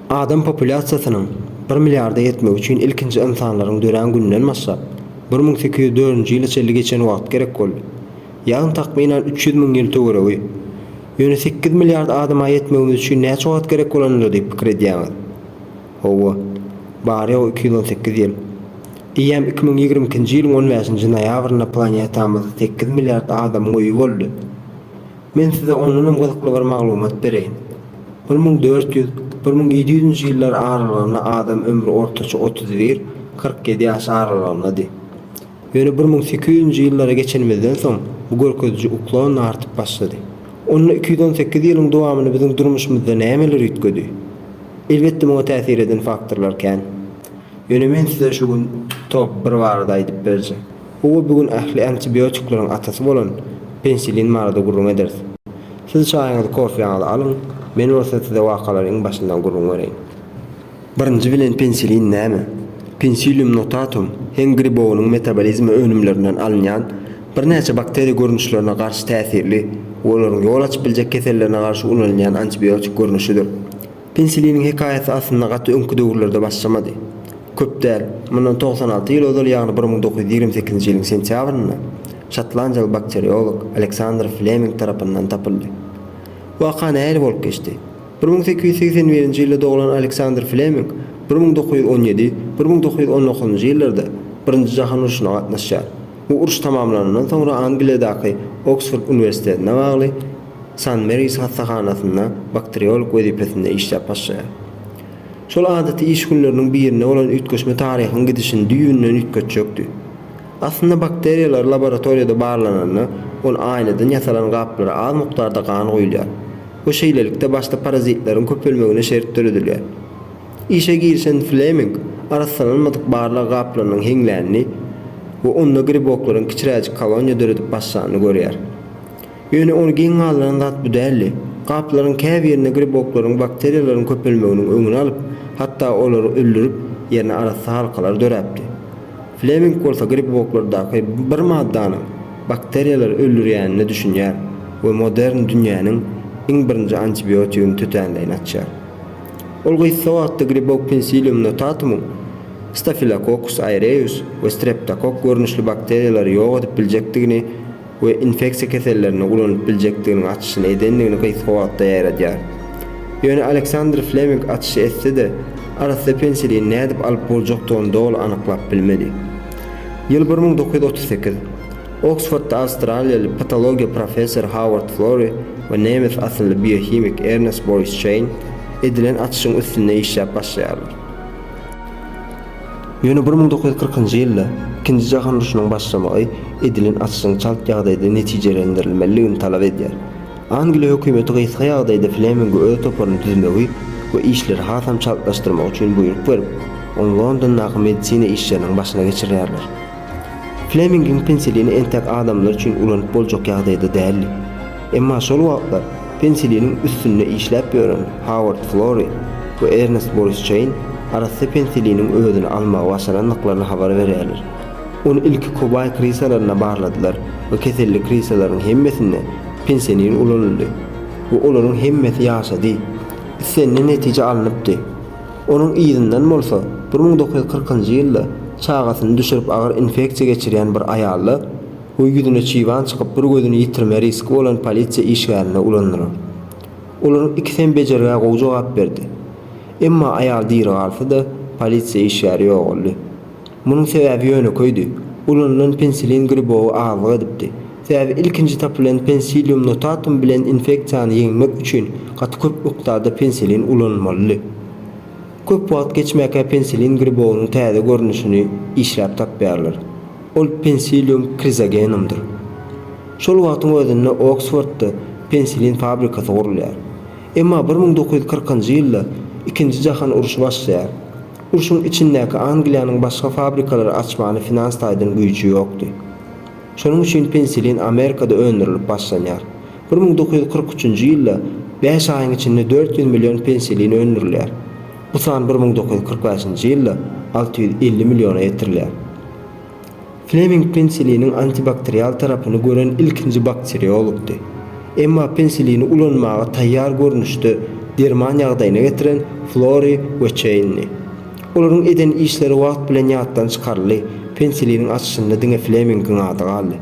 Adam populýasiýasynyň bir milliarda ýetmegi üçin ilkinji ynsanlaryň dörän gününden başlap, bir müň sekiz ýüz dördünji ýyla çenli geçen wagt gerek boldy. Ýagny takmynan üç ýüz müň ýyl töweregi. Ýöne sekiz milliard adama ýetmegimiz üçin näçe wagt gerek bolanydyr diýip pikir edýäňiz? Hawa, bary-ýogy iki ýüz on sekiz ýyl. Eýýäm iki müň ýigrimi ikinji ýylyň on bäşinji noýabrynda planetamyzda sekiz milliard adamyň öýi boldy. Men size ondan hem gyzykly bir maglumat bereýin. Bir müň dört ýüz, bir müň ýedi ýüzünji ýyllar aralygynda adam ömri ortaça otuz bir, kyrk ýedi ýaş aralygyndady. Ýöne bir müň sekiz ýüzünji ýyllara geçenimizden soň bu görkeziji uklanda artyp başlady. Onda iki ýüz on sekiz ýylyň dowamynda biziň durmuşymyzda nämeler üýtgedi? Elbetde muňa täsir eden faktorlar kän. Ýöne men size şu gün top bir barada aýdyp berjek. Howa bu gün ähli antibiotikleriň atasy bolan penisilin barada gürrüň ederis. Siz çaýyňyzy kofeýaňyzy alyň, men bolsa size wakalary iň başyndan gürrüň bereýin. Birinji bilen penisilin näme? Pensilium notatum heň gribowynyň metabolizmi önümlerinden alynýan birnäçe bakteriýa görnüşlerine garşy täsirli we olaryň ýol açyp biljek kesellerine garşy ulanylýan antibiotik görnüşidir. Pensiliniň hekaýasy aslynda gaty öňki döwürlerde başlamady. Köp däl, mundan togsan alty ýyl ozal, ýagny bir müň dokuz ýüz ýigrimi sekizinji ýylyň sentýabrynda şotlandiýaly bakteriolog Aleksandr Fleming tarapyndan tapyldy. Waka nähili bolup geçdi? Bir müň sekiz ýüz segsen birinji ýylda doglan Aleksandr Fleming bir müň dokuz ýüz on ýedi, bir müň dokuz ýüz on dokuzynjy ýyllarda Birinji jahan urşuna gatnaşýar. Bu uruş tamamlanandan soňra Angliýadaky Oksford uniwersitetine bagly San Meris hassahanasynda bakteriolog wezipesinde işläp başlaýar. Şol adaty iş günleriniň birinde bolan üýtgeşme taryhyň gidişini düýbünden üýtgetjekdi. Aslynda bakteriýalar laboratoriýada barlananda, ol aýnadan ýasalan gaplara az mukdarda gan guýulýar we şeýlelikde başda parazitleriň köpelmegine şert döredilýär. Işe girişen Fleming arassalanmadyk barlag gaplarynyň heňlänini we onda griboklaryň kiçiräjik koloniýa döredip başlanyny görýär. Ýöne ony geň galdyran zat bu däldi. Gaplaryň käbirinde griboklaryň, bakteriýalaryň köpelmeginiň öňüni alyp, hatda olary öldürip, ýerine arassa halkalar döräpdi. Fleming bolsa griboklardaky bir maddanyň bakteriýalary öldürýänine düşünýär we modern dünýäniň iň birinji antibiotigini tötänleýin açýar. Ol gysga wagtda gribok Pensilium notatumyň Staphylococcus aureus we Streptokokk görnüşli bakteriýalary ýok edip biljekdigini we infeksiýa kesellerinde ulanylyp biljekdiginiň açyşyny edendigini gysga wagtda ýaýradýar. Ýöne Aleksandr Fleming açyşy etse-de, arassa penisilini nädip alyp boljakdygyny doly anyklap bilmedi. Ýyl bir müň dokuz ýüz otuz sekiz. Oksfordda awstraliýaly patologiýa professory Howard Flori we nemes asylly biohimik Ernest Boris Çeýn edilen açyşyň üstünde işläp başlaýarlar. Ýöne bir müň dokuz ýüz kyrkynjy ýylda, Ikinji jahan urşunyň başlamagy edilen açyşyň çalt ýagdaýda netijelendirilmeliligini talap edýär. Angliýa hökümeti gysga ýagdaýda Fleminge öz toparyny düzmegi we işleri hasam çaltlaşdyrmagy üçin buýruk berip, ony Londondaky medisina işleriniň başyna geçirýärler. Flemingiň penisilini entäk adamlar üçin ulanyp boljak ýagdaýda däldi. Emma şol wagtlar pensiliniň üstünde işläp ýören Howard Flory we Ernest Boris Çeýn arassa pensiliniň özüni almagy başarandyklaryny habar berýärler. Ony ilki kobaý krisalarynda barladylar we keselli krisalaryň hemmesinde pensilin ulanyldy we olaryň hemmesi ýaşady. Islenilen netije alnypdy. Onuň yzyndan bolsa bir müň dokuz ýüz kyrkynjy ýylda çagasyny düşürip agyr infeksiýa geçirýän bir aýalda, Bu ýüzüne çiban çykyp bir gözüni ýitirme riski bolan polisiýa işgärine ulandylar. Olaryň ikisem bejergä gowy jogap berdi. Emma aýal diri galsa-da, polisiýa işgäri ýogaldy. Munuň sebäbi ýönekeýdi, ulanylan pensilin gribowy azlyk edipdi. Sebäbi ilkinji tapylan Pensilium notatum bilen infeksiýany ýeňmek üçin gaty köp mukdarda pensilin ulanylmalydy. Köp wagt geçmäkä pensilin gribowynyň täze görnüşini işläp tapýarlar. Ol Pensilium krizogenumdyr. Şol wagtyň özünde Oksfordda penisilin fabrikasy gurulýar. Emma bir müň dokuz ýüz kyrkynjy ýylda Ikinji jahan urşy başlaýar. Urşuň içindäki Angliýanyň başga fabrikalary açmany finans taýdan güýji ýokdy. Şonuň üçin penisilin Amerikada öndürilip başlanýar. Bir müň dokuz ýüz kyrk üçünji ýylda bäş aýyň içinde dört ýüz million penisilin öndürilýär. Bu san bir müň dokuz ýüz kyrk bäşinji ýylda alty ýüz elli milliona ýetirilýär. Fleming penisiliniň antibakterial tarapyny gören ilkinji bakteriologdy. Emma penisilini ulanmaga taýýar görnüşde derman ýagdaýyna getiren Flori we Çeýnni. Olaryň eden işleri wagt bilen ýatdan çykaryldy, penisiliniň açyşynda diňe Flemingiň ady galdy.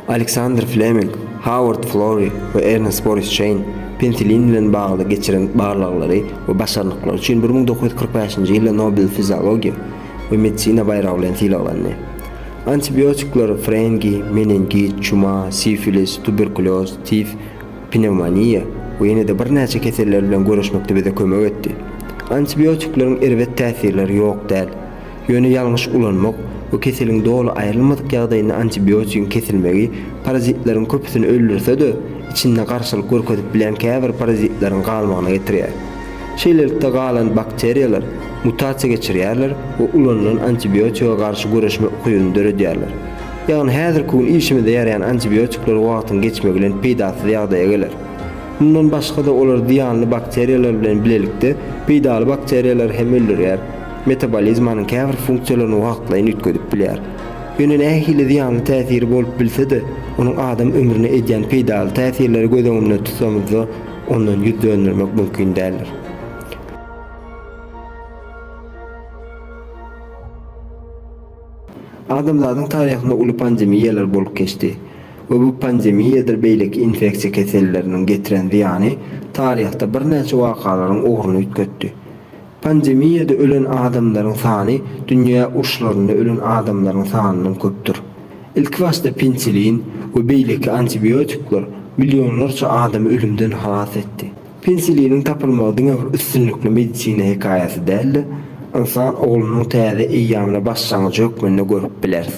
Aleksandr Fleming, Howard Florey we Ernest Boris Çeýn penisilin bilen bagly geçiren barlaglary we başarnyklary üçin bir müň dokuz ýüz kyrk bäşinji ýylda Nobel fiziologiýa we medisina baýragy bilen sylaglandy. Antibiotikler frengi, meningit, çuma, sifilis, tuberkulýoz, tif, pnewmoniýa we ýene-de birnäçe keseller bilen göreşmekde bize kömek etdi. Antibiotikleriň erbet täsirleri ýok däl. Ýöne ýalňyş ulanmak we keseliň doly aýrylmadyk ýagdaýynda antibiotigiň kesilmegi parazitleriň köpüsini öldürse-de, içinde garşylyk görkezip bilýän käbir parazitleriň galmagyna getirýär. Şeýlelikde, galan bakteriýalar mutasiýa geçirýärler we ulanylan antibiotige garşy göreşme ukybyny döredýärler. Ýagny häzirki gün işimize ýaraýan antibiotikler wagtyň geçmegi bilen peýdasyz ýagdaýa geler. Mundan başga-da, olar zyýanly bakteriýalar bilen bilelikde peýdaly bakteriýalary hem öldürýär. Metabolizmanyň käbir funksiýalaryny wagtlaýyn üýtgedip bilýär. Ýöne nähili zyýanly täsiri bolup bilse-de, onuň adam ömrüne edýän peýdaly täsirleri göz öňünde tutsamyzda, ondan ýüz döndermek mümkin däldir. Adamzadyň taryhynda uly pandemiýalar bolup geçdi we bu pandemiýadyr beýleki infeksiýa keselleriniň getiren zyýany taryhda birnäçe wakalaryň ugruny üýtgetdi. Pandemiýada ölen adamlaryň sany dünýä urşlarynda ölen adamlaryň sanyndan köpdür. Ilkibaşda penisilin we beýleki antibiotikler millionlarça adamy ölümden halas etdi. Penisiliniň tapylmagy diňe bir üstünlikli medisina hekaýasy däl-de, ynsan oglunyň täze eýýamyny başlangyjy hökmünde görüp bileris.